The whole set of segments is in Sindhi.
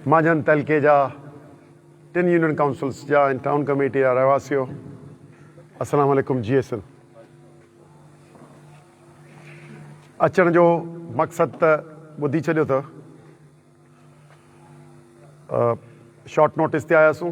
مانجهند تعلقي جا ٽن يونين ڪائونسلز جا ۽ ٽائون ڪميٽي جا رهواسيو السلام عليڪم جي ايس اين اچڻ جو مقصد ته ٻڌي ڇڏيو اٿو شارٽ نوٽس تي آياسون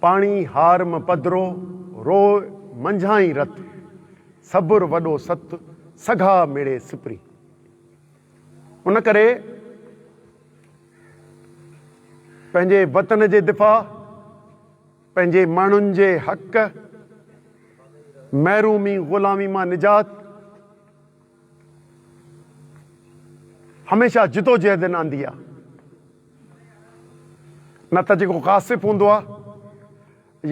پاڻي هار م پڌرو، روء منجهانئين رت، صبر وڏو ست، سگها مڙي سپري. ان ڪري پنهنجي وطن جي دفاع، پنهنجي ماڻهن جي حق، محرومي غلامي مان نجات، هميشه جدوجهد نه آندي آ نه ته جيڪو غاصب هوندو آ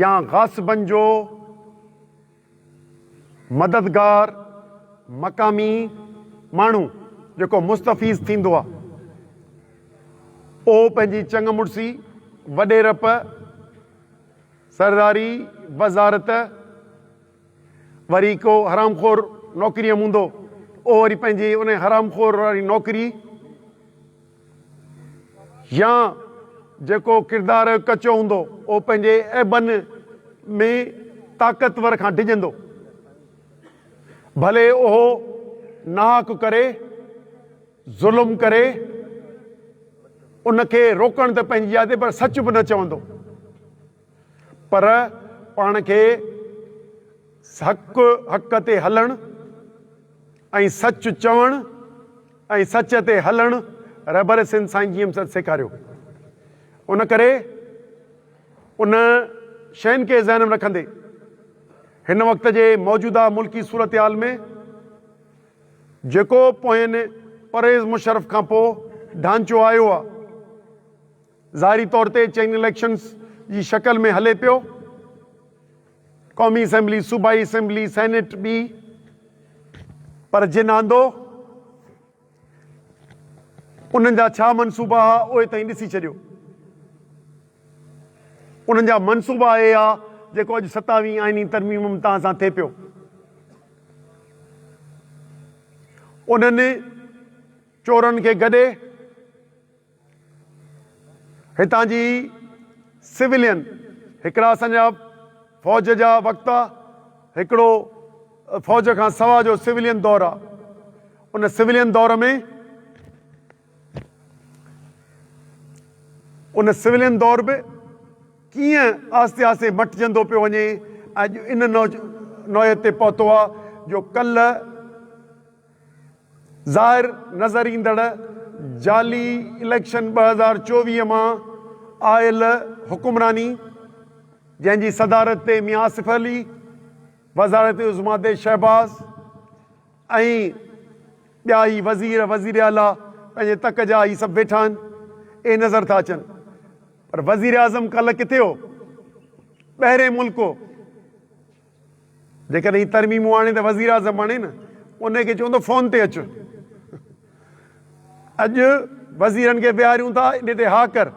يا غاصبن جو مددگار مقامي ماڻهو جيڪو مستفيض ٿيندو آ اهو پنهنجي چڱ مڙسي وڏيرپ سرداري وزارت وري ڪو حرام خور نوڪريء موندو، اهو وري پنهنجي انهيء حرام خور واري نوڪري يا جيڪو ڪردار ڪچو هوندو، اهو پنهنجي عيبن ۾ طاقتور کان ڊڄندو، ڀلي اهو ناحق ڪري، ظلم ڪري، ان کي روڪڻ ته پنهنجي جاء تي پر سچ به نه چوندو. پر پاڻ کي حق حق تي هلڻ ۽ سچ چوڻ ۽ سچ تي هلڻ رهبر سنڌ سائين جي ايم سيد سيکاريو ان ڪري ان شين کي ذهن ۾ رکندي هن وقت جي موجوده ملڪي صورتحال ۾ جيڪو پوين پرويز مشرف کان پو ڍانچو آيو آ ظاهري طور تي چين اليڪشنز جي شڪل ۾ هلي پيو. قومي اسيمبلي، صوبائي اسيمبلي، سينيٽ ٻي پر جن آندو انهن جا ڇا منصوبا ها اهي توهين ڏسي ڇڏيو. انهن جا منصوبا اهي ها جيڪو اڄ ستاويهين آئيني ترميم امتان سان ٿئي پيو. انهن چورن کي گڏي. هتان جي سولين هڪڙا اسان جا فوج جا وقت آ هڪڙو فوج کان سوا جو سولين دور آ ان سولين دور ۾ ان سولين دور به ڪيئن آهستي آهستي مٽجندو پيو وڃي اڄ ان نوعيت تي پهتو آ جو ڪل ظاهر نظر ايندڙ جعلي اليڪشن ٻه هزار چوويهه مان آيل حڪمراني جنهن جي صدارت تي ميان آصف علي، وزارت عظميٰ تي شهباز ۽ ٻيا هي وزير، وزير اعليٰ پنهنجي تڪ جا هي سڀ ويٺا آهن، اهي نظر ٿا اچن پر وزيراعظم ڪالهه ڪٿي هو؟ ٻهرين ملڪ هو. جيڪڏهن هي ترميمون آڻي ته وزيراعظم بڻي نه انهي کي چوندو فون تي اچ اڄ وزيرن کي ويهاريون ٿا اڏي تي ها ڪر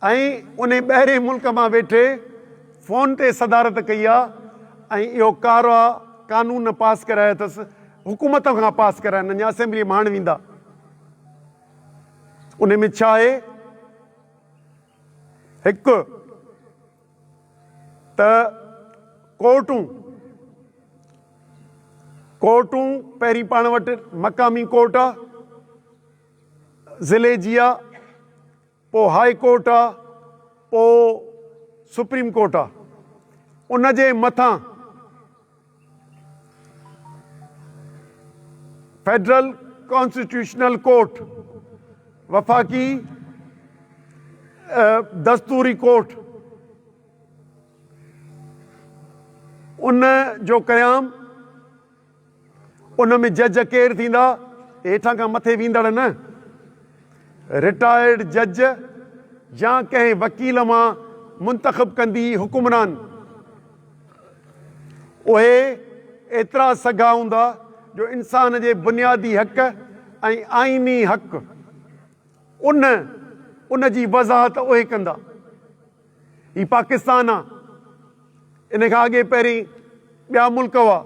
۽ انهي ٻهرين ملڪ مان ويٺي فون تي صدارت ڪئي آ ۽ اهو ڪارا قانون نه پاس ڪرايا اٿس حڪومت کان پاس ڪرائن اڃا اسيمبلي ۾ هاڻ ويندا انهي ۾ ڇا آهي هڪ ته ڪورٽون ڪورٽون پهرين پاڻ وٽ مقامي ڪورٽ آ ضلعي جي آ پو هاء ڪورٽ آ پو سپريم ڪورٽ آ ان جي مٿان فيڊرل ڪانسٽيٽيوشنل ڪورٽ، وفاقي دستوري ڪورٽ، ان جو قيام، ان ۾ جج ڪير ٿيندا؟ هيٺان کان مٿي ويندڙ نه، رٽائرڊ جج يا ڪنهن وڪيل مان منتخب ڪندي حڪمران. اهي ايترا سگها هوندا جو انسان جي بنيادي حق ۽ آئيني حق ان ان جي وضاحت اهي ڪندا. هي پاڪستان آ ان کان اڳي پهرين ٻيا ملڪ هئا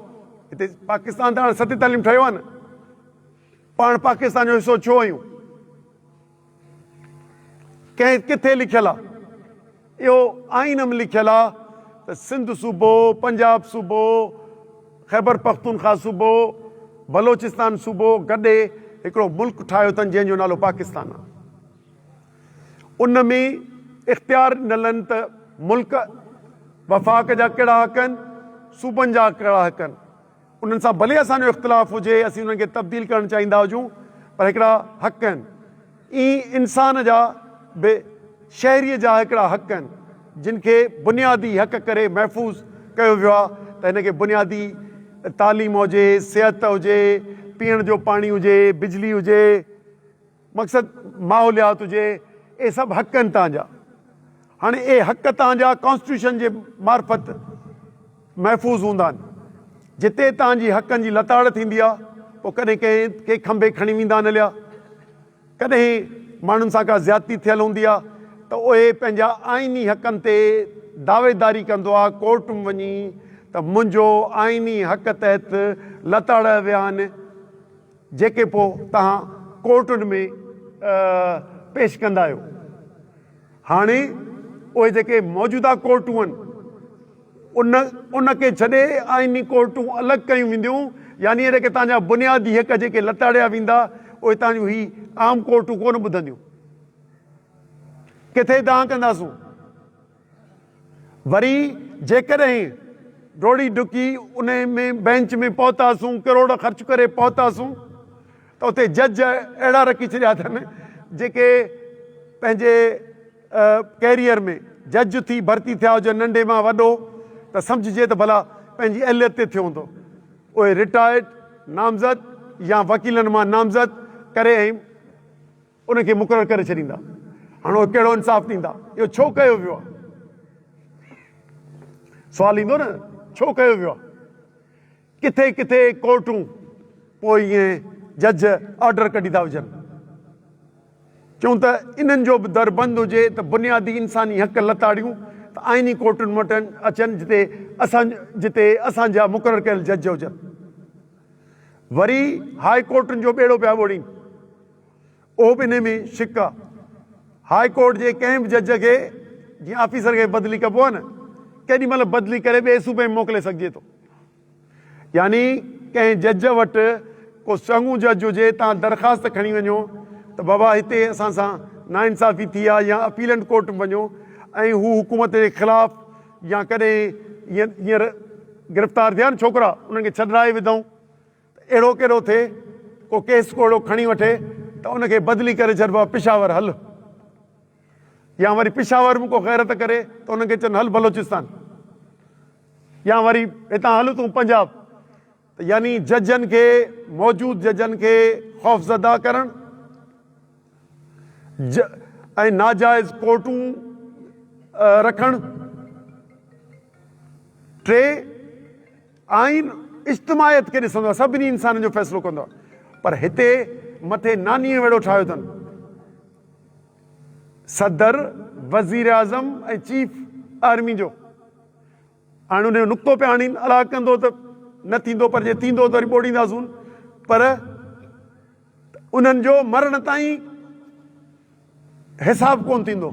هتي پاڪستان ته هاڻي ست تعليم ٺهيو آ نه پاڻ پاڪستان جو حصو ڇو آهيون ڪنهن ڪٿي لکيل آ اهو آئين م لکيل آ ته سنڌ صوبو، پنجاب صوبو، خيبر پختونخوا صوبو، بلوچستان صوبو گڏي هڪڙو ملڪ ٺاهيو اٿن جنهن جو نالو پاڪستان آ. ان ۾ اختيار ڏنل آهن ته ملڪ، وفاق جا ڪهڙا حق آهن، صوبن جا ڪهڙا حق آهن. انهن سان ڀلي اسان جو اختلاف هجي، اسين انهن کي تبديل ڪرڻ چاهيندا هجون، پر هڪڙا حق آهن. ائين انسان جا به شهريء جا هڪڙا حق آهن، جن کي بنيادي حق ڪري محفوظ ڪيو ويو آهي ته هن کي بنيادي تعليم هجي، صحت هجي، پيئڻ جو پاڻي هجي، بجلي هجي. مقصد ماحوليات هجي اهي سڀ حق آهن تان جا هاڻي اهي حق تان جا ڪانسٽيٽيوشن جي معرفت محفوظ هوندا آهن جتي تان جي حقن جي لتاڙ ٿيندي آهي پوء ڪڏهن ڪنهن کي کنڀي کڻي ويندا آهن هليا ڪڏهن ماڻهن سان ڪا زيادتي ٿيل هوندي آهي ته اهي پنهنجا آئيني حقن تي دعويداري ڪندو آهي ڪورٽ م وڃي ته منهنجو آئيني حق تحت لتاڙيا ويا آهن جيڪي پوء توهان ڪورٽن ۾ پيش ڪندا آهيو. هاڻي اهي جيڪي موجوده ڪورٽون آهن ان ان کي ڇڏي آئيني ڪورٽون الڳ ڪيون وينديون يعني اهي جيڪي توهان جا بنيادي حق جيڪي لتاڙيا ويندا اهي توهان جون هي عام ڪورٽون ڪونه ٻڌنديون. ڪٿي دانهن ڪنداسون. وري جيڪڏهن ڊوڙي ڊڪي ان ۾ بئنچ ۾ پهتاسون، ڪروڙ خرچ ڪري پهتاسون ته اتي جج اهڙا رکي ڇڏيا اٿن جيڪي پنهنجي ڪيريئر ۾ جج ٿي ڀرتي ٿيا هجن ننڍي مان وڏو ته سمجهجي ته ڀلا پنهنجي اهليت تي ٿيو هوندو. اهي رٽائرڊ نامزد يا وڪيلن مان نامزد ڪري ۽ ان کي مقرر ڪري ڇڏيندا. هاڻ اهي ڪهڙو انصاف ڏيندا؟ اهو ڇو ڪيو ويو آهي؟ سوال ايندو نه ڇو ڪيو ويو آهي؟ ڪٿي ڪٿي ڪورٽون پوء ائين جج آرڊر ڪڍي ٿا وجهن. چون ته انهن جو به در بند هجي ته بنيادي انساني حق لتاڙيون ته آئيني ڪورٽن وٽن اچن جتي اسان جتي اسان جا مقرر ڪيل جج هجن. وري هاء ڪورٽن جو ٻيڙو پيا ٻوڙين. اهو به انهي ۾ شڪ آ. هاء ڪورٽ جي ڪنهن به جج کي جيئن آفيسر کي بدلي ڪبو آ نه ڪيڏي مهل بدلي ڪري ٻئي صوبي ۾ موڪلي سگهجي ٿو. يعني ڪنهن جج وٽ ڪو چڱو جج هجي تان درخواست کڻي وڃو ته بابا هتي اسان سان نا انصافي ٿي آ يا اپيلنٽ ڪورٽ ۾ وڃو ۽ هو حڪومت جي خلاف يا ڪڏهن جيئن هينئر گرفتار ٿيا آ نه ڇوڪرا انهن کي ڇڏرائي وڌئون ته اهڙو ڪيڏو ٿئي، ڪو ڪيس ڪو اهڙو کڻي وٺي ته ان کي بدلي ڪري چئجبو آهي پشاور هل. يا وري پشاور ۾ ڪو غيرت ڪري ته انهن کي چون هل بلوچستان. يا وري هتان هل تون پنجاب. ته يعني ججن کي موجود ججن کي خوفزده ڪرڻ ج ۽ ناجائز ڪورٽون رکڻ. ٽي. آئين اجتماعيت کي ڏسندو آهي، سڀني انسانن جو فيصلو ڪندو آهي، پر هتي مٿي نانيء ويڙهو ٺاهيو اٿن، صدر، وزيراعظم ۽ چيف آرمي جو. هاڻي ان جو نقطو پيا هڻين، الاء ڪندو ته نه ٿيندو، پر جي ٿيندو ته وري ٻوڙينداسون، پر انهن جو مرڻ تائين حساب ڪونه ٿيندو.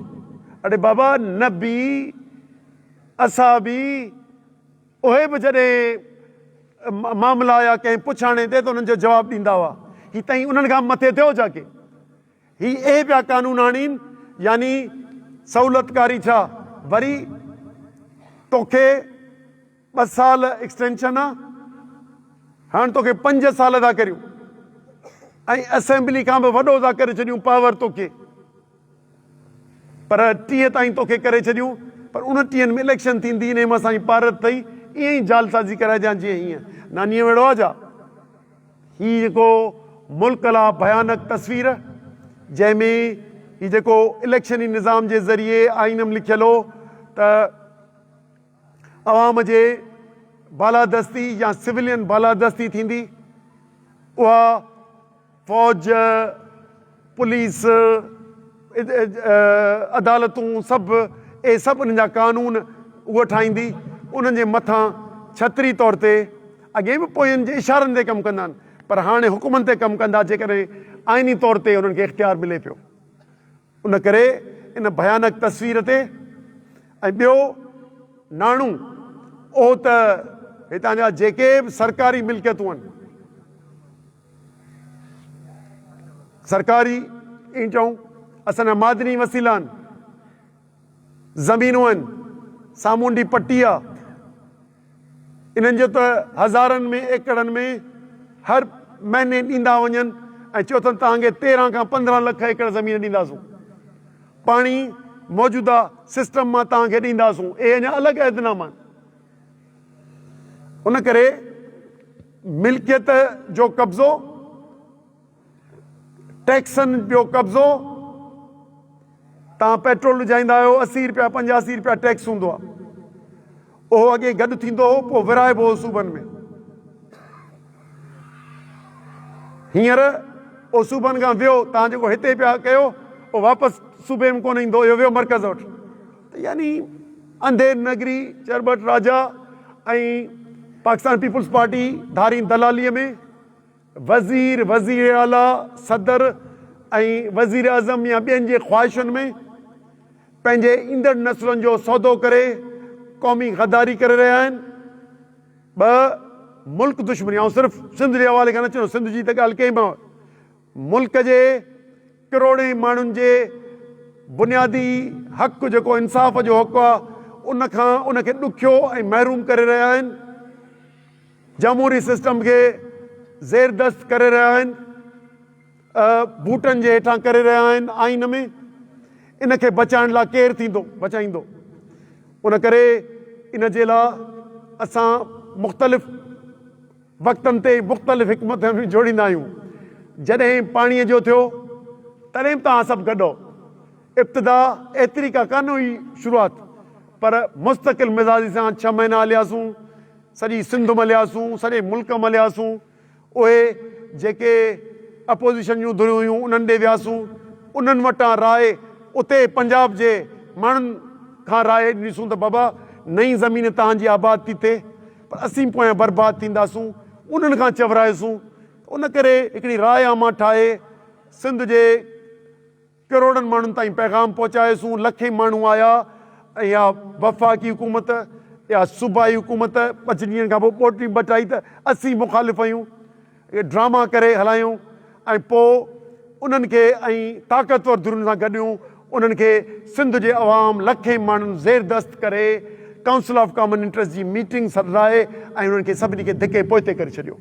اڙي بابا، نبي، اصحابي، اهي به جڏهن معاملا يا ڪنهن پڇاڻي تي ته انهن جو جواب ڏيندا هئا. هي تائين انهن کان به مٿي ٿيو ڇا ڪي؟ هي اهي پيا قانون آڻين يعني سهولتڪاري ڇا وري توکي ٻه سال ايڪسٽينشن آ هاڻ توکي پنج سال ٿا ڪريون ۽ اسيمبلي کان به وڏو ٿا ڪري ڇڏيون پاور توکي. پر ٽيهه تائين توکي ڪري ڇڏيون پر ان ٽيهن ۾ اليڪشن ٿيندي انهي مان سائين پارت اٿئي ائين ئي جعل سازي ڪرائجان جيئن هينئن نانيء وڙهو آ جا. هي جيڪو ملڪ لا ڀيانڪ تصوير جنهن ۾ هي جيڪو اليڪشني نظام جي ذريعي آئينم لکيل هو ته عوام جي بالادستي يا سولين بالادستي ٿيندي اها فوج، پوليس، عدالتون سڀ اهي سڀ انهن جا قانون هوء ٺاهيندي. انهن جي مٿان ڇتري طور تي اڳي به پوين جي اشارن تي ڪم ڪندا آهن پر هاڻي حڪمن تي ڪم ڪندا جيڪڏهن آئيني طور تي انهن کي اختيار ملي پيو ان ڪري ان ڀيانڪ تصوير تي ۽ ٻيو ناڻو اهو ته هتان جا جيڪي به سرڪاري ملڪيتون آهن، سرڪاري ائين چئون، اسان جا معدني وسيلا آهن، زمينون آهن، سامونڊي پٽي آهي، انهن جو ته هزارن ۾ ايڪڙن ۾ هر مهيني ڏيندا وڃن ۽ چئو اٿن توهان کي تيرهن کان پندرهن لک ايڪڙ زمين ڏينداسون پاڻي موجوده سسٽم مان توهان کي ڏينداسون اهي اڃا الڳ عهدناما آهن ان ڪري ملڪيت جو قبضو. ٽيڪسن جو قبضو، توهان پيٽرول وجهائيندا آهيو، اسي رپيا، پنجاسي رپيا ٽيڪس هوندو آهي. اهو اڳي گڏ ٿيندو هو، پوء ورهائبو هو صوبن ۾. هينئر اهو صوبن کان ويو، توهان جيڪو هتي پيا ڪيو، اهو واپس صوبي ۾ ڪونه ايندو، اهو ويو مرڪز وٽ. ته يعني انڌير نگري، چرٻٽ راجا ۽ پاڪستان پيپلز پارٽي ڌارين دلاليء ۾ وزير، وزير اعليٰ، صدر ۽ وزيراعظم يا ٻين جي خواهشن ۾ پنهنجي ايندڙ نسلن جو سودو ڪري قومي غداري ڪري رهيا آهن. ٻه، ملڪ دشمني، آئون صرف سنڌ جي حوالي کان نه چيندس، سنڌ جي ته ڳالهه ڪئي مئو، ملڪ جي ڪروڙين ماڻهن جي بنيادي حق جيڪو انصاف جو حق آ، ان کان ان کي ڏکيو ۽ محروم ڪري رهيا آهن. جمهوري سسٽم کي زيردست ڪري رهيا آهن، بوٽن جي هيٺان ڪري رهيا آهن، آئين ۾ ان کي بچائڻ لا ڪير ٿيندو، بچائيندو؟ ان ڪري ان جي لا اسان مختلف وقتن تي مختلف حڪمت عمليون جوڙيندا آهيون. جڏهن پاڻي جو ٿيو تڏهن به توهان سڀ گڏ هئو. ابتدا ايتري ڪا ڪانه هئي شروعات پر مستقل مزاجي سان ڇهه مهينا هلياسون. سڄي سنڌ ملياسون، سڄي ملڪ ملياسون، اهي جيڪي اپوزيشن جون ڌريون هيون انهن ڏي وياسون، انهن وٽان راء، اتي پنجاب جي ماڻهن کان راء ڏنيسون ته بابا نئين زمين توهان جي آباد ٿي ٿئي پر اسين پويان برباد ٿينداسون، انهن کان چورائيسون، ان ڪري هڪڙي راء عامه ٺاهي سنڌ جي. ڪروڙن ماڻهن تائين پيغام پهچايوسون، لکين ماڻهو آيا ۽ اها وفاقي حڪومت يا صوبائي حڪومت پنج ڏينهن کان پوء ٻوٽي ٻٽائي ته اسين مخالف آهيون اهي ڊراما ڪري هلايائون ۽ پوء انهن کي ۽ طاقتور ڌرين سان گڏيون انهن کي سنڌ جي عوام لکين ماڻهن زيردست ڪري ڪائونسل آف ڪامن انٽرسٽ جي ميٽنگ سڏرائي ۽ انهن کي سڀني کي ڌڪي پوئتي ڪري ڇڏيو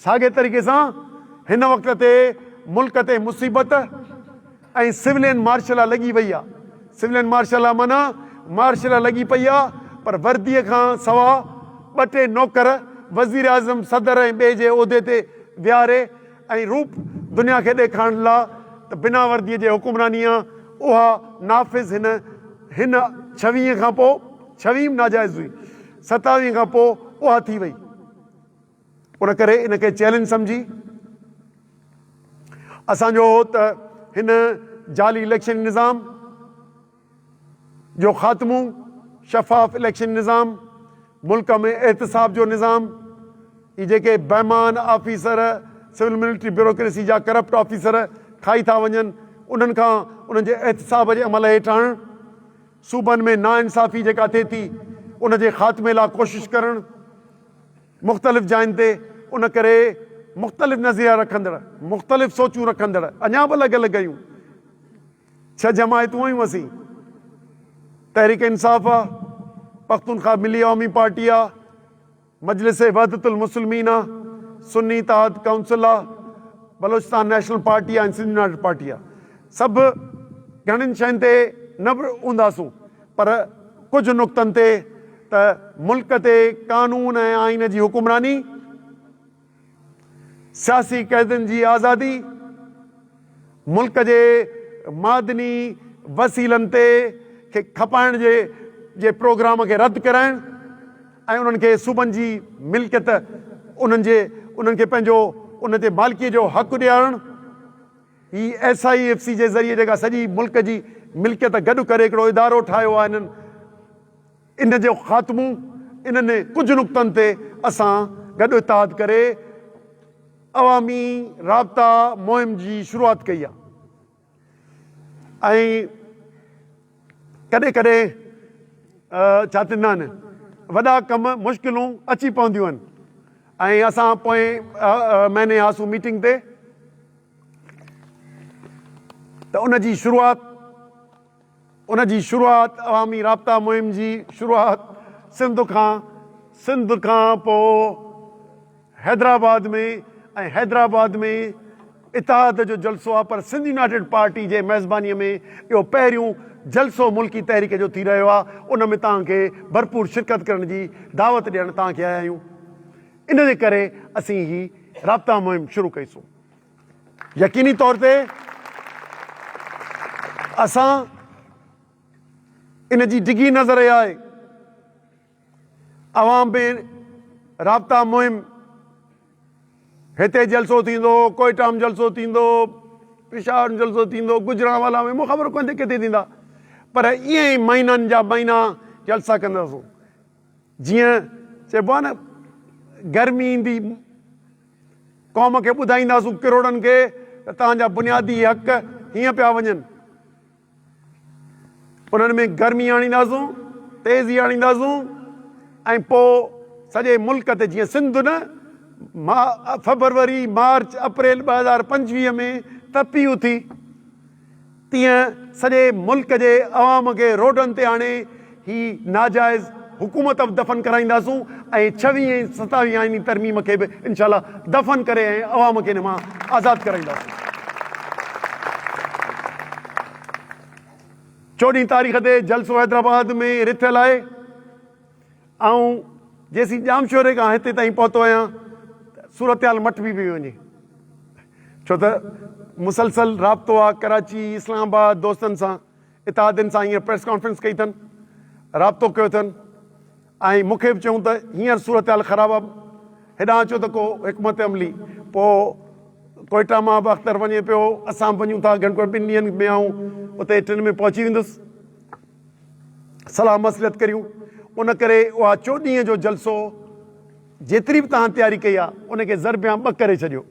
ساڳئي طريقي سان هن وقت تي ملڪ تي مصيبت ۽ سولين مارش لا لڳي وئي آ، سولين مارش لا معنيٰ مارش لا لڳي پئي آ پر وردي کان سوا ٻه ٽي نوڪر وزيراعظم، صدر ۽ ٻئي جي عهدي تي ويهاري ۽ روپ دنيا کي ڏيکارڻ لا ته بنا وردي جي حڪمراني آ اها نافذ هن هن ڇويهين کان پوء ڇويهيم ناجائز هئي ستاويهين کان پوء اها ٿي وئي. ان ڪري ان کي چئلينج سمجهي اسان جو هو ته هن جعلي اليڪشن نظام جو خاتمو، شفاف اليڪشن نظام، ملڪ ۾ احتساب جو نظام، هي جيڪي بيمان آفيسر سول ملٽري بيوروڪريسي جا ڪرپٽ آفيسر کائي ٿا وڃن انهن کان انهن جي احتساب جي عمل هيٺ آڻڻ، صوبن ۾ ناانصافي جيڪا ٿئي ٿي ان جي خاتمي لا ڪوشش ڪرڻ. مختلف جاين تي ان ڪري مختلف نظريا رکندڙ، مختلف سوچون رکندڙ اڃا به الڳ الڳ ھيون. ڇهه جماعتون ھيون اسين، تحريڪ انصاف آ، پختونخواھ ملي عوامي پارٽي آ، مجلس وحدت المسلمين آ، سني اتحاد ڪائونسل آ، بلوچستان نيشنل پارٽي آ ۽ سنڌ يونائيٽيڊ پارٽي آ. سڀ گھڻين شين تي نه به ھونداسون پر ڪجهه نقطن تي ته ملڪ تي قانون ۽ آئين جي حڪمراني، سياسي قيدين جي آزادي، ملڪ جي معدني وسيلن تي کي کپائڻ جي پروگرام کي رد ڪرائڻ ۽ انهن کي صوبن جي ملڪيت انهن کي پنهنجو ان تي مالڪيء جو حق ڏيارڻ، هي ايس آء ايف سي جي ذريعي جيڪا سڄي ملڪ جي ملڪيت گڏ ڪري هڪڙو ادارو ٺاهيو آهي انهن ان جو خاتمو انهن ڪجهه نقطن تي اسان گڏ اتحاد ڪري عوامي رابطا مهم جي شروعات ڪئي آهي ۽ ڪڏهن ڪڏهن ڇا ٿيندا آهن وڏا ڪم مشڪلون اچي پونديون آهن ۽ اسان پوئين مهيني هئاسون ميٽنگ تي ته ان جي شروعات ان جي شروعات عوامي رابطا مهم جي شروعات سنڌ کان سنڌ کان پوء حيدرآباد ۾ ۽ حيدرآباد ۾ اتحاد جو جلسو آهي پر سنڌ يونائيٽيڊ پارٽي جي ميزباني ۾ اهو پهريون جلسو ملڪي تحريڪ جو ٿي رهيو آهي ان ۾ توهان کي ڀرپور شرڪت ڪرڻ جي دعوت ڏيڻ توهان کي آيا آهيون ان جي ڪري اسين هي رابطا مهم شروع ڪئي سون يقيني طور تي اسان ان جي ڊگهي نظر آهي عوام بي رابطا مهم هتي جلسو ٿيندو ڪوئيٽا م جلسو ٿيندو پشاور م جلسو ٿيندو گجرانوالا ۾ مون خبر ڪونهي ڪٿي ٿيندا پر ائين ئي مهينن جا مهينا جلسا ڪنداسون جيئن چئبو آهي نه گرمي ايندي قوم کي ٻڌائينداسون ڪروڙن کي ته تهان جا بنيادي حق هيئن پيا وڃن انهن ۾ گرمي آڻينداسون، تيزي آڻينداسون ۽ پوء سڄي ملڪ تي جيئن سنڌ نه فبروري، مارچ، اپريل ٻه هزار پنجويهه ۾ تپي اٿي تيئن سڄي ملڪ جي عوام کي روڊن تي آڻي هي ناجائز حڪومت به دفن ڪرائينداسون ۽ ڇويهين ۽ ستاويهين آئيني ترميم کي به انشاء الله دفن ڪري ۽ عوام کي ان مان آزاد ڪرائينداسون. چوڏهين تاريخ تي جلسو حيدرآباد ۾ رٿيل آهي. آئون جيسين ڄامشوري کان هتي تائين پهتو آهيان ته صورتحال مٽبي پئي وڃي. ڇو ته مسلسل رابطو آهي ڪراچي، اسلام آباد دوستن سان اتحادين سان هينئر پريس ڪانفرنس ڪئي اٿن، رابطو ڪيو اٿن ۽ مون کي به چيون ته هينئر صورتحال خراب آهي، هيڏانهن اچو ته ڪو حڪمت عملي پوء ڪوئيٽا مان به اختر وڃي پيو، اسان به وڃون ٿا، گهڻ ڪري ٻن ڏينهن ۾ آئون اتي ٽن ۾ پهچي ويندس، صلاح مصلحت ڪريون، ان ڪري اها چو ڏينهن جو جلسو جيتري به توهان تياري ڪئي آهي، ان کي ضرب يا ٻه ڪري ڇڏيو.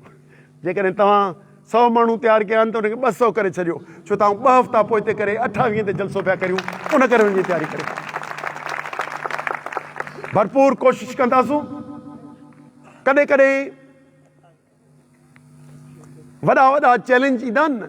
جيڪڏهن توهان سؤ ماڻهو تيار ڪيا آهن ته ان کي ٻه سؤ ڪري ڇڏيو ڇو ته آئون ٻه هفتا پوئتي ڪري اٺاويهين تي جلسو پيا ڪريون ان ڪري ان جي تياري ڪريو ڀرپور ڪوشش ڪنداسون ڪڏهن ڪڏهن وڏا وڏا چئلينج ايندا آهن نه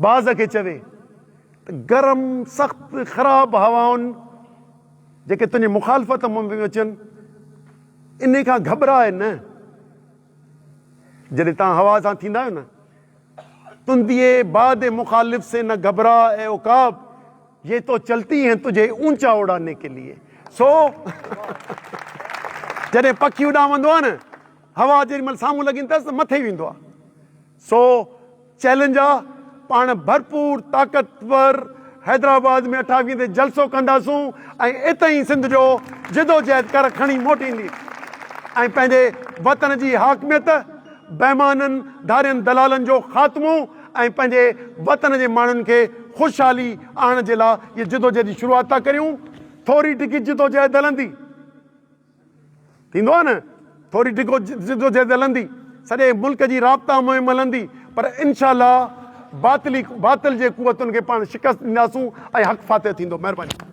باز کي چوي ته گرم، سخت، خراب هوائن جيڪي تنهنجي مخالفت ۾ پيون اچن، انهي کان گهٻراء نه. جڏهن توهان هوا سان ٿيندا آهيو نه، تندي باد مخالف سي نه گهٻراء اي عقاب، يي تو چلتي هين تجهي اونچا اڙانے ڪي ليي. سو جڏهن پکي اڏامندو آهي نه، هوا جيڏي مهل سامهون لڳي ايندي اٿس ته مٿي ويندو آهي. سو چئلينج آ پاڻ ڀرپور طاقتور حيدرآباد ۾ اٺاويهين تي جلسو ڪنداسون ۽ اتهين سنڌ جو جدوجهد ڪر کڻي موٽيندي ۽ پنهنجي وطن جي حاڪميت بيمانن ڌارين دلالن جو خاتمو ۽ پنهنجي وطن جي ماڻهن کي خوشحالي آڻڻ جي لا جدوجهد جي شروعات ٿا ڪريون ٿوري ڊگهي جدوجهد هلندي. ٿيندو آهي نه ٿوري ڊگهو جدوجهد هلندي سڄي ملڪ جي رابطا مهم هلندي پر انشاء الله باطل جي قوتن کي پاڻ شڪست ڏينداسون ۽ حق فاتح ٿيندو مهرباني.